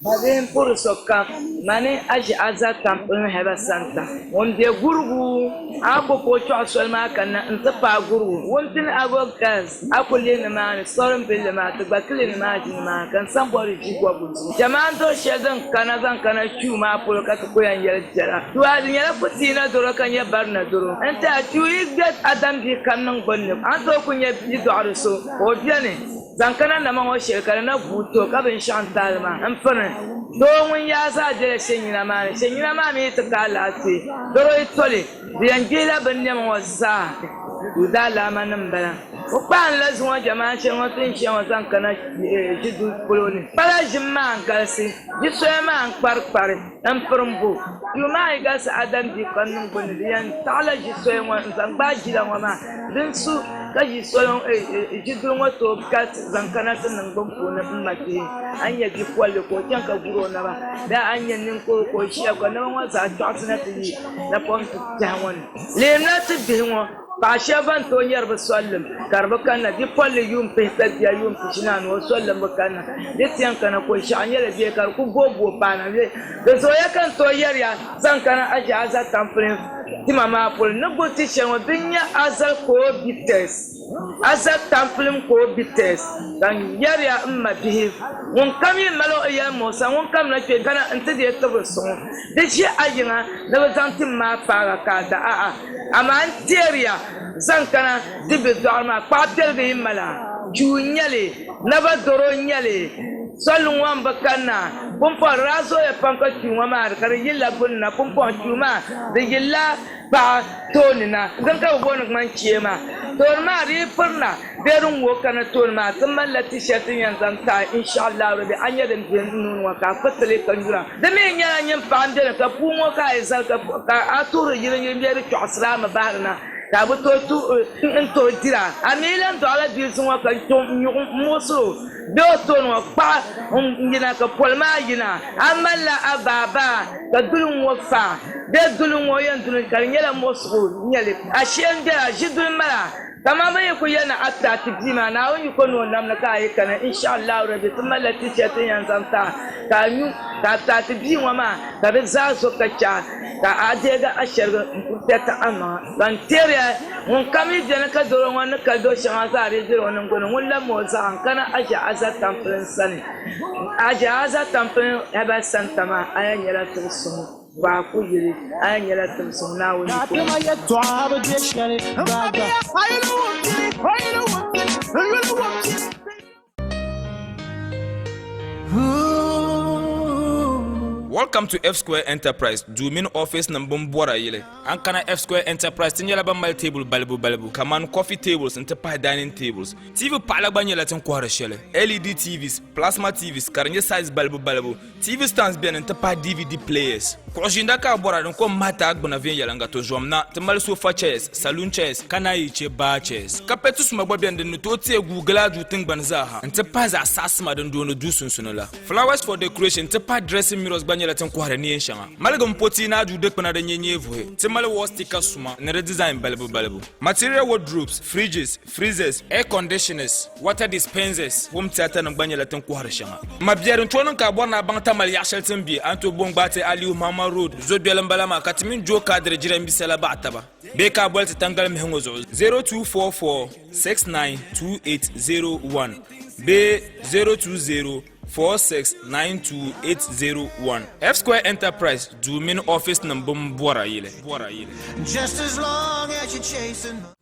Babihin puri sokam, mani Aʒiaza kam n lɔhi ba santa. Ŋun be Gurugu, Agogo kpuɣi soli maa kanna n ti paai Gurugu wuntin Agog Girls. A ku lihi nimaani sɔrimbilli maa ti gba kili nimaaji nimaani ka n sambɔri ʒi bɔbigu duu. Jamaa n doli shɛli din kana zaŋ kana Chiu maa polo ka ti ku yɛn yɛli biɛla. Duaa di nyɛla Kutiina doro ka nyɛ Barina doro. N tiɛha Chiu yi gbɛt a dam bia ka n niŋ bini ni a ni tooi ku nyɛ bia dɔɣiri so ka o beni zaŋ kana nama ŋɔ shɛli ka di na guui ti o ka binshɛɣu n taali maa n piri doo ŋun yaai zaa bela Shenyina maa ni. Shenyina maa mi yi ti ka alaafee doro yi toli. Bɛ yɛn gbihila bɛ ni nɛm ŋɔ zaa ni daalaamanim m-bala. O kpahinla zuŋɔ jɛmaaŋ shɛli ŋɔ ti ni shia ŋɔ zaŋ kana ʒiduli polo ni. Pala ʒim maa n-galisi, ʒi soya maa n-kparikpari, m-pirim bo. Yuu maa yi galisi Adam bia kpaŋ niŋbu ni, di yɛn taɣila ʒi soya ŋɔ n-zaŋ gbaai jila ŋɔ maa. Din su ka ʒiduli ŋɔ tooi galisi zaŋ kana ti niŋgbuŋ puuni m-ma kpee. A ni nya bipolili ka o chaŋ ka guri o naba bee a ni nya niŋkuru ka o ʒia ka o naba ŋɔ zaa tɔɣisina ti yi. Napoŋsi tɛha ŋɔ ni, leemla ti bihi ŋɔ paɣa shɛba ban tooi nyari bɛ sollim ka di bi kanna. Bipolili yuun pihi ka bia yuun pishinaanu o sollim bi kanna. Di tiɛŋ kana Koishaɣu nyɛla bia ka di ku booi booi paana le. Di zooya ka n tooi yɛri ya zaŋ kana Aʒi Azal tampulim tima maa polo ni guli ti shɛli ŋɔ din nyɛ Azal Coebites. A za tampilim ka o bi tees, ka n yɛriya m mabihi, ŋunkam yi mali o yɛlimuɣisa, ŋunkam na kpe gana nti di ya tibiri so ŋɔ. Di ʒi a yiŋa ni bɛ zaŋ tim maa paag a ka a da a a, amaa n teeriya zaŋ kana ti be dɔɣiri maa. Kpaɣ piɛligu yi mali a, chuu n-nyɛ li, naba doro n-nyɛ li, soli ŋɔ m-bi kanna. Pumpɔŋ di daa zooya pam ka chuu ŋɔ maa di ka di yilila gbunni na, pumpɔŋ chuu maa di yilila Paɣa tooni na dini ka bi booni ŋmani chee maa tooni maa di yi pirina bee din ŋoo kana tooni maa ti malila t-shirt din yɛn zaŋ taai inshallah rabi a nya din bɛ n nuuni ŋɔ ka a kpiriti lee ka nyura di mi nyɛla nyin paɣa n beni ka puu ŋɔ ka a yi zali ka a tuhiri yili yili bee di kpɛɣisiri a mi bahiri na ka a bi tooi tuhi n tooi dira a mi yi lan dɔɣila bia zuŋɔ ka n tom n nyuɣu n muɣisiri o. Doo so ŋɔ kpaɣi n yina ka poli maa yina a malila a baa baa ka duli ŋɔ fa bɛ duli ŋɔ yɛn duli ka di nyɛla mɔɣisigu nyɛli ashee n bɛla ʒi duli mala kaman bɛ yi ku yɛn niŋ atiraati bia maa Naawuni yi ko ni o namli ka a yi kana inshallahu rabi ti malila tichɛsi n yɛn zaŋ ti a ka a nyu ka atiraati bia ŋɔ maa ka di zaa zo ka chɛ a Ka a deegi a shɛrigi m-puhisi ti a maŋa, ka n teeri a. Ŋunkam yi beni ka doro ŋɔ ni kali do shɛŋa zaa dii ʒiri o niŋgbuŋ ni, ŋun la mɔɔ zaa n-kana Aʒiaza tampiliŋ sani. Aʒiaza tampiliŋ Herbal Centre maa, a yɛn nyɛla tibi suŋ Baaku yili, a yɛn nyɛla tibi suŋ Naawuni yiko. Welcome to F Square Enterprise duu mini office nim bin bɔra yili an kana F Square Enterprise ti nyɛla ban mali table balibu balibu kamani coffee tables n ti pahi dining tables TV paɣala gba nyɛla tin kɔhiri shɛli LED TVs plasma TVs ka di nyɛ size balibu balibu TV stands beni n ti pahi DVD players. Kuɣu ʒiinda ka a bɔra din kom mahiti a gbuna viɛnyɛliŋga ti zom na ti mali sofa chairs, saloon chairs, ka naan yi chɛ bar chairs. Kapɛti suma gba beni din ni tooi teei guui gili a duu tiŋgbani zaa ha n ti pahi zaɣ saɣa sima din dooni duu sunsuni la. Flowers for decoration n ti pahi dressing mirrors gba nyɛla tin kɔhiri neen shɛŋa. Maligim potii ni a duu dikpuna din nyɛ nyeevuhi. Ti mali wall sticker suma ni di design balibu balibu. Material wardrobes, fridges, Freezers, air conditioners, water dispensers, home theatre nim gba nyɛla tin kɔhiri shɛŋa. Mabiɛri n-tooi niŋ ka a bɔri ni a baŋ Tamale yaɣ shɛli tin be Anto Bongbaate Aliyu Mahama Road zo doli m-bala maa ka ti mini Joe Kadiri jirambisa la baɣi taba bee ka a boli ti Tangali Mihi ŋɔ zuɣu 0244692801 bee 0204692801. F-Square Enterprise duu mini office nim bini bɔra yili.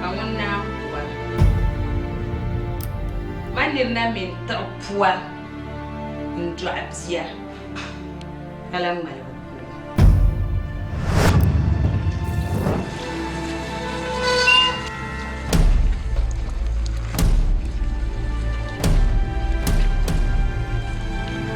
Ka ŋun naan puari ma nirina mini tiɣ pua n-dɔɣi bia ka lahi ŋmaligi kuliga.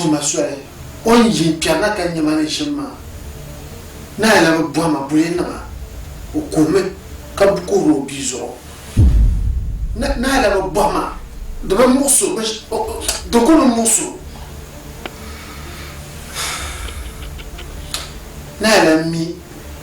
tuma soli o ni yi kpɛri na ka nyɛma ni ʒim maa naai la bi bɔhima bulinima o kuhimi ka kuhiri o bia zuɣu naai la bi bɔhima di bi muɣisi di ku bi muɣisi o naai la mi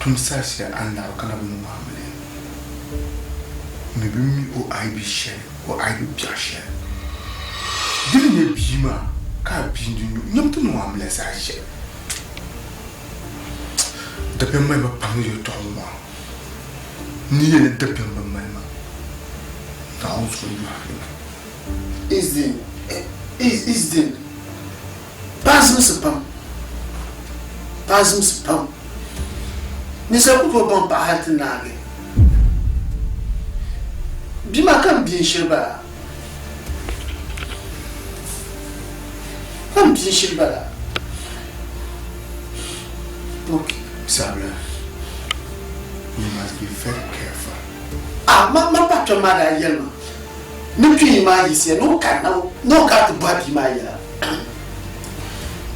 Tum saɣisiya Annabi kalabinu maa mini mi bɛ mi o aibi shɛli, o aibi biɛɣu shɛli. Di ni nyɛ bia maa ka a bia n-di nyu, nyam ti niŋ o amiliya zaa shɛli. Dabiɛm mali ma pam ni yɛltɔɣa ŋɔ maa, ni ya ni dabiɛm bi mali ma, Naawuni zuɣu n-yɔhiri ma. Izdin. Paɣa zimsi pam, paɣa zimsi pam, ninsal ku tooi baŋ paɣa hal ti naagi bia maa ka n bia n-shiri ba la, ka n bia n-shiri ba la, ok, sabila you must be very careful, a ma ma paɣa kpɛm maa daa yɛli ma ni kpee maa yiɣisiya ni o kari na ni o kari ti bɔhi bia maa yɛla.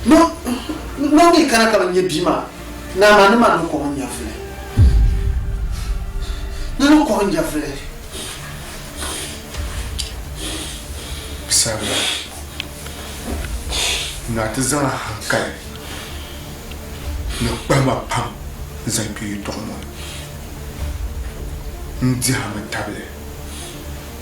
No, no mi kana ka bi nya bia maa, naa maa ni maa ni kɔhi nyɛvuli. Ni ni kɔhi nyɛvuli. Sabila, naa ti zaŋ a hankali ni kpahima pam n-zaŋ kpe yɛtɔɣ ŋɔ ni. N dihi a mi tabili.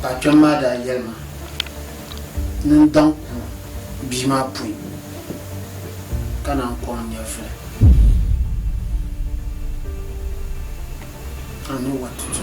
Paɣa kpɛm maa daa yɛli ma ni n daŋ ku bia maa pui ka na n kɔŋ nyɛvili. I know what to do.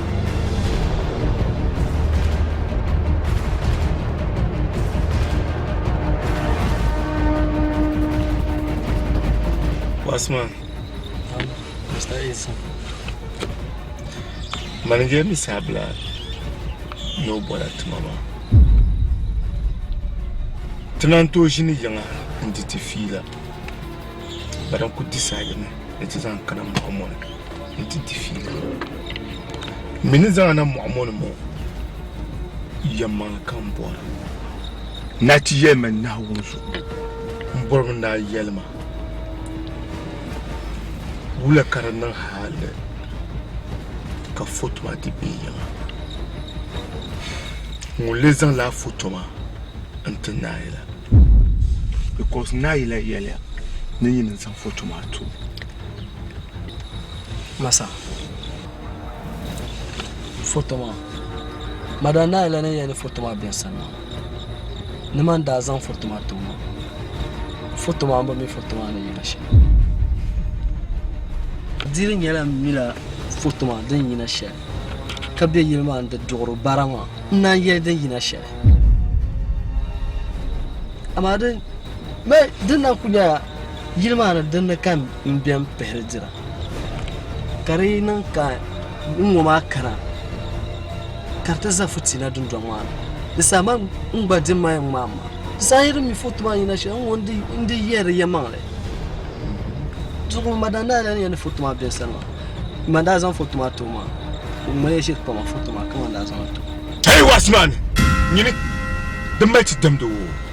Bossman. Um, Mr. Edson. Manager mi sabla no bɔla tuma maa. Ti naan tooi ʒini yiŋa n-di ti fiila. Bari n ku disaayimi ni ti zaŋ kana mɔɣu mɔni. nti di fiili ŋɔ. M mi ni zaŋ a na mɔɣu ŋɔ ni mɔ yɛmmaŋli ka m bɔra. Naa ti yɛlimi Naawuni zuɣu m bɔrimi ni a yɛlima wula ka di niŋ hali ka foto maa ti be yiŋa. Ŋun lee zaŋla a foto maa n-ti Naayila? Because Naayila yɛliya ni nyini n-zaŋ foto maa ti o. Masa. Foto maa Madam Nayi la ni yɛli foto maa biɛri sani maa ni man daa zaŋ foto maa ti ŋɔ foto maa bi mi foto maa ni yina shɛm diri nyɛla mila foto maa din yina shɛm ka bɛ yili maa n di duɣiri bara maa n naan yɛli din yina shɛm amaa din na ku nyɛla Yili maa ni din ni ka n bɛn pihiri dira ka di niŋ ka n ŋɔ maa kana ka di ti za fitiina dundɔŋ maa ni di saha man n gba di mali n ŋmaa maa di saha yi di mi foto maa yina shɛli n ŋɔ n di yɛ di yɛmaŋli zuɣu ma daa daa ni yɛn di foto maa bɛ sani maa ma daa zaŋ foto maa too maa o mali ʒiri kpama foto maa ka ma daa zaŋ too. Hey, watchman! Nyini, di mali ti damdi o.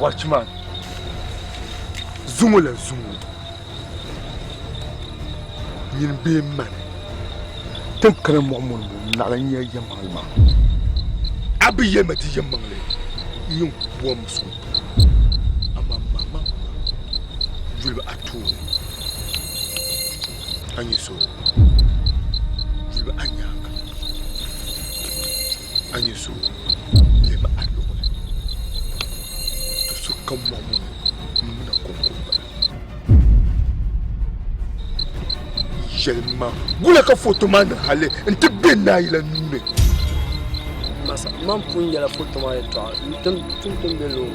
Watchman, zuŋo la zuŋo nyin bee mani tin kana mɔɣu mɔni ŋɔ naɣila nya yɛmmaŋli maa a bi yɛli ma ti yɛmmaŋli nyin bɔm so amaa maamaŋ yuli a tooni a ni so lɛbi a nyaaŋa a ni so lɛbi a luɣuli do so kam mɔɣu mɔni m-mina kɔŋkomi bala yɛlim ma wula ka foto maa niŋ hali n-ti be naayila nuu ni masa man pun yɛla foto maa yɛtɔɣa n-tim tum be loori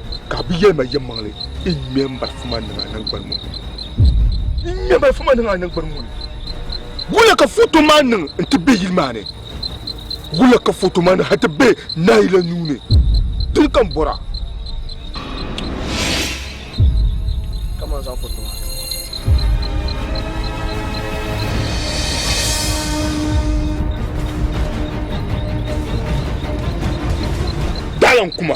Ka bɛ yɛli ma yɛmmaŋli, N ŋme m-balifu maa niŋ a naŋgbani ŋɔ ni. N ŋme m-balifu maa niŋ a naŋgbani ŋɔ ni. Wula ka foto maa niŋ nti be yili maa ni? Wula ka foto maa niŋ hal ti be nayi la nuu ni? Dini ka n bɔra? Kamani zaŋ foto maa ti ma. Daalankuma!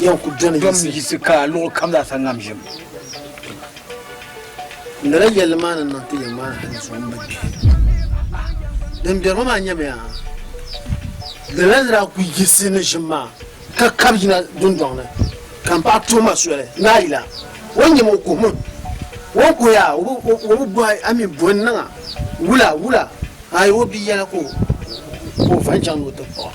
Yɛn ku dɔmi yiɣisi ka luɣ kam zaa sa ŋam ʒim. N dala yɛlli maa ni niŋ ti ya maa hali zuɣu m-bi kpihira. Din beri ma maa nyamiya dala n daa ku yiɣisi ni ʒim maa ka kab yina dundɔŋ ni ka m paɣ tuhi ma soli ni a yila o ni nyam o kuhi min. O ni kuhi a o bi bɔhi a mi bɔ n-niŋ a wula wula a yi o bia yɛla ka o va n-chaŋ ni o ti kpɔɣ a.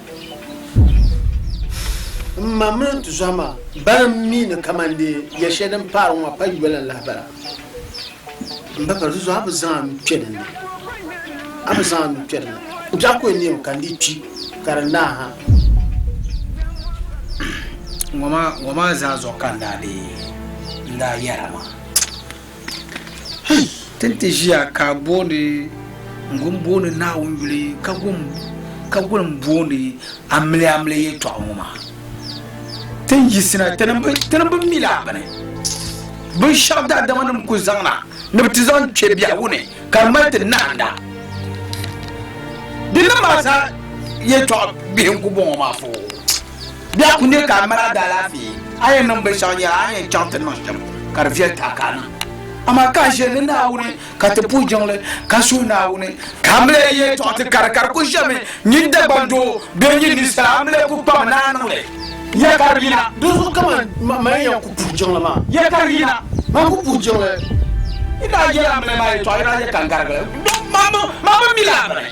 M ma mini n tizɔhi maa bana mi ni kaman dee ya shɛli din paari ŋɔ pa yoli n lahi bala. M ba ka di zuɣu a bi zaŋ a nuu kpe dinni. A bi zaŋ a nuu kpe dinni. N biɛɣu ka o neei mi ka n dii kpi ka di naai ha. Ŋɔ maa zaa zuɣu ka n daa be n daa yɛra maa. Hei! Ti ni ti ʒiya ka booni n-gun booni Naawuni yuli ka gun ka gun booni amiliya amiliya yɛtɔɣa ŋɔ maa. Ti ni yiɣisina ti ni bi ti ni bi mi laa bini binshɛɣu daadamanim ku zaŋ na ni bɛ ti zaŋ kpe biɛhigu ni ka di mali ti nahinda. Di ni maa zaa yɛtɔɣa bihi n-ku bɔŋɔ maa poo. Bɛ a ku nya ka a mali a daalaafee, a yɛn niŋ binshɛɣu nyɛla a ni yɛn chaŋ ti niŋ shɛm ka di viɛli ti a ka a niŋ. Amaa ka a ʒiya ni Naawuni, ka ti puhi jiŋli, ka suhi Naawuni, ka a mali yɛltɔɣa ti kari ka di ku ʒemi, nyin Dagbaŋ Doo, bee nyin ninsal a mali ku kpami ni a niŋ li. Ya kari yina! Dinzuɣu ka man man yɛn ku puhi jiŋli maa. Ya kari yina! Man ku puhi jiŋli. Yi daa yɛl a mali ma yɛltɔɣa, yi daa yɛl ka n garigi li. Maa mi mi la a mini.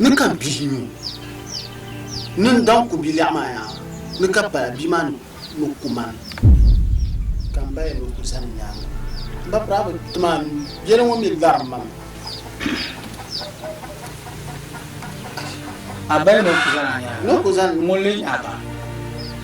Ni ka bihi nyu ni n daŋ ku bilɛɣu maa yaa ni ka pala bia maa ni ku man ka n baya ni ku zani nyaaŋa. M ba piraaba ti maa nyu yɛli ŋɔ mi lari ma mi. A baya ni ku zani a nyaaŋa? Ni ku zani. Ŋun leei a ba?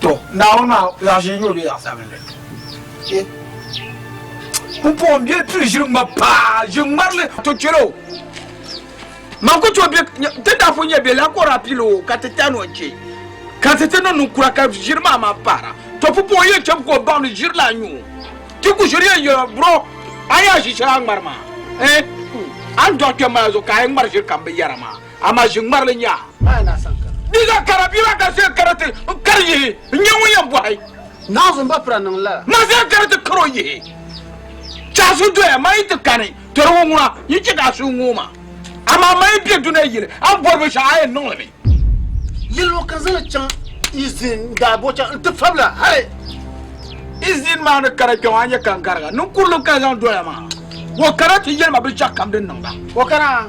To, Naawuni maa zaɣ ʒee nyoo bee zaɣ sabinli? Ye. Pumpɔŋɔ bɛ pili ʒiri ŋma paa, ʒiri ŋmarili to chɛli o. Man ku to bɛ, ti daa pun nyɛ bɛ la kɔri apili o ka ti tani o che. Ka ti ti ni niŋ kura ka ʒiri maa maa paara. To pumpɔŋɔ yɛn chabi ka o baŋ ni ʒiri la nyoo. Ti ku ʒiri yɛn yɛla bro, a yaa ʒi shɛli a ŋmari maa. Eh, a ni dɔɣi kpɛm maa zuɣu ka a yi ŋmari ʒiri kam binyɛra maa. Amaa ʒi ŋmarili nyaa. Di ka kara bia maa ka zee kara ti n kari yihi n nyɛ ŋun yɛn bɔhi. Naawuni ba pira niŋ lala. Ma zee kara ti kari o yihi. Chɛɣu su doya ma yi ti kani tɔri ŋɔ ŋuna yi chɛ ka a suhu ŋooi ma. Amaa ma yi be dunia yili a ni bɔri binshɛɣu a yɛn niŋli mi. Yɛli o ka n zaŋli chaŋ Izin n daa bo chaŋ n ti fabila hali Izin maa ni kara kpɛŋɔ a nya ka n gariga. Ninkurili n kani zaŋ doya maa. O kana ti yɛli ma binshɛɣu kam din niŋ ba. O kana.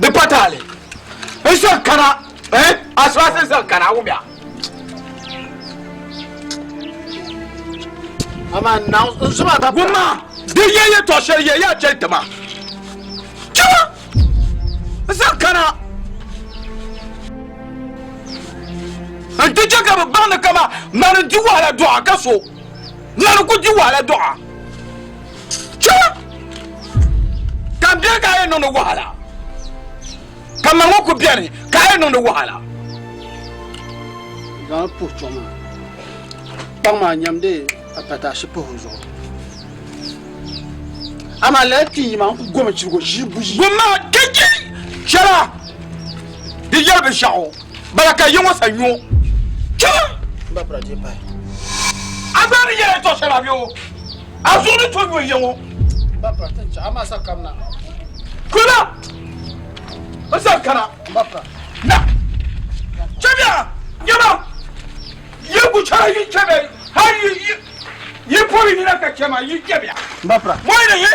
Di pa taali. N sɔŋ kana. Eh? A sɔɣisi n zaŋ kana a wumya. Amaa n naŋ n zuba ka. Gumma di yɛ yɛtɔɣa shɛli yɛ yaa chɛli ti ma. Chɛma n zaŋ kana. N ti chɛ ka bi baŋ ni kama mani n di wahala dɔɣa ka so. Nani ku di wahala dɔɣa. Chɛ! Ka m bɛni ka a yɛn niŋdi wahala. Ka ma ŋɔ ku bɛni ka a yɛn niŋdi wahala. Zaŋ puhi chɔŋ maa. Kpaŋ maa nyamdi apataashi pahi o zuɣu. Amaa lala kpii yi maa n ku gomi chirigo ʒii buyi. Gumma ka chɛ shɛla di yɛli binshɛɣu. bala ka yiŋɔ sa nyo chaŋ. A gba ni yɛla tɔɣ shɛli a bɛ o, a zuɣu ni to nyo yiŋɔ. Kuna n san kana. Na, chɛmiya nyɛma yi ku chɛra yi chɛmi hal yi pɔbi nina ka chɛ ma yi nyɛmiya. Mɔyili yi.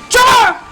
Chɛma.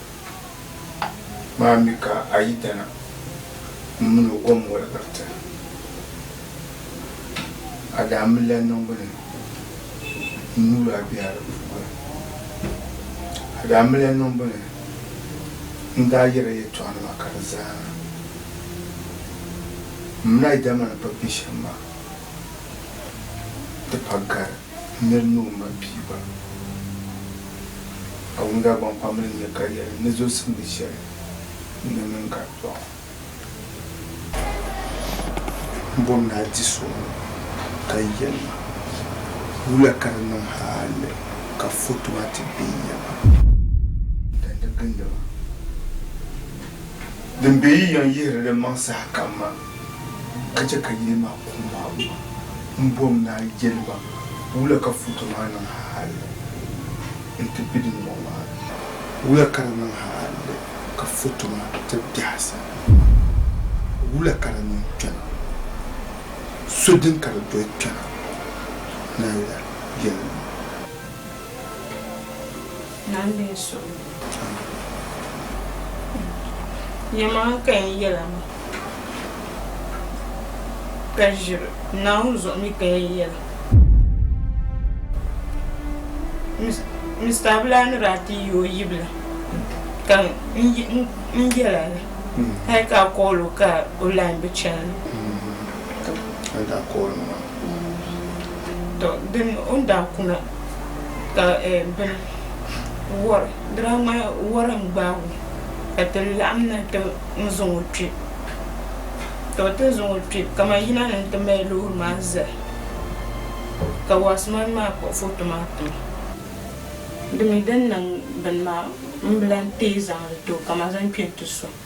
maa mi ka a yi dana m min o gom wɔligira ti a daa mi la niŋbu ni n nuur a biɛha di puuni. A daa mi la niŋbu ni n daa yɛra yɛtɔɣinima ka di zaana m min a yi dama ni pa biɛ shɛm maa di pa gari. N yɛli ni o ma piiba Awunga Gbankpamili ni ka yɛli ni zo simdi shɛli n ni mini ka dɔɣi m bom ni a di so ka yɛli ma wula ka di niŋ hali ka foto maa ti be n ya maa. Dandi gindiba din be yi yɛn yihiri li maŋ sahakam maa ka chɛ ka yili maa kuŋ maa guma m-bom ni a yɛli ba wula ka foto maa niŋ halli nti be dindɔŋ maa ni? Wula ka di niŋ halli ka foto maa ti biɛhisa? Wula ka di niŋ kpɛna? So din ka di doli kpɛna? Naawila yɛli ma. Naa mini suhu ni yi chaŋ yɛlimaŋli ka yɛn yɛla maa ka ʒiri Naawuni zuɣu mi ka yɛn yɛla. Mista Abulaa ni daa ti yi o yibila ka n yɛla la hali ka a kɔɔl o ka o lain bi chani ni. Tɔ dini o ni daa kuna ka bini wari dira maa wara n gbaagi o ka ti laɣim na ti n zaŋ o kpe ka bi ti n zaŋ o kpe kaman yina ni n ti mali loori maa zali ka wasimam maa kpuɣi foto maa tima di mi din niŋ bini maa m bi lan teei zaŋ li ti o ka ma zaŋ kpe n ti so.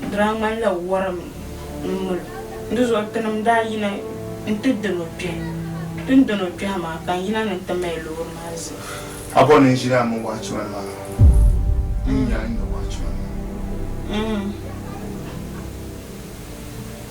Di daa ŋmanila wɔrimi m-mil o, di zuɣu tinim daa yina nti diri o kpɛhi. Tin dini o kpɛhi maa ka n yina ni nti mali loori maa zali. A bɔri ni n ʒini a mini watchman maa? N nya a ni nya watchman maa.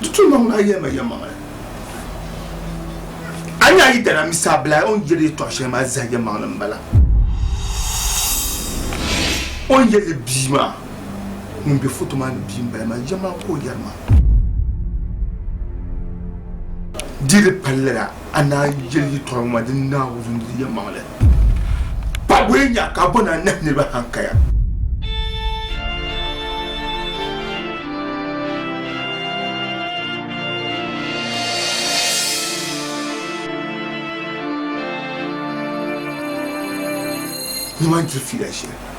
Di tu niŋ a yɛlima yɛlimaŋli. A ni a yi dana mi saa bila o ni yɛli yɛtɔɣ shɛli maa zahi yɛlimaŋli m-bala. O ni yɛli bia maa ŋun be foto maa ni bia m-bala maa yɛm maa ka o yɛri maa. Di di palli la. A naa yɛli yɛtɔɣa ŋɔ maa din naai wurim di yɛlimaŋli, Pa bɔya nya ka a bo ni a nahi niriba hankaya. Nima n-diri fiila shɛli.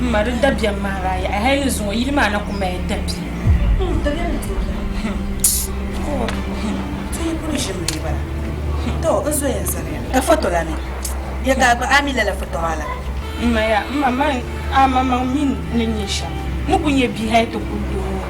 M ma di dabiɛm maa daa yaɣi hali ni zuŋɔ yili maa na kuli mali dabiɛm. M ma yaa, m ma mali a maŋmaŋ mini ni nyɛ shɛm ni ku nyɛ bia hali ti kuli doo ŋɔ.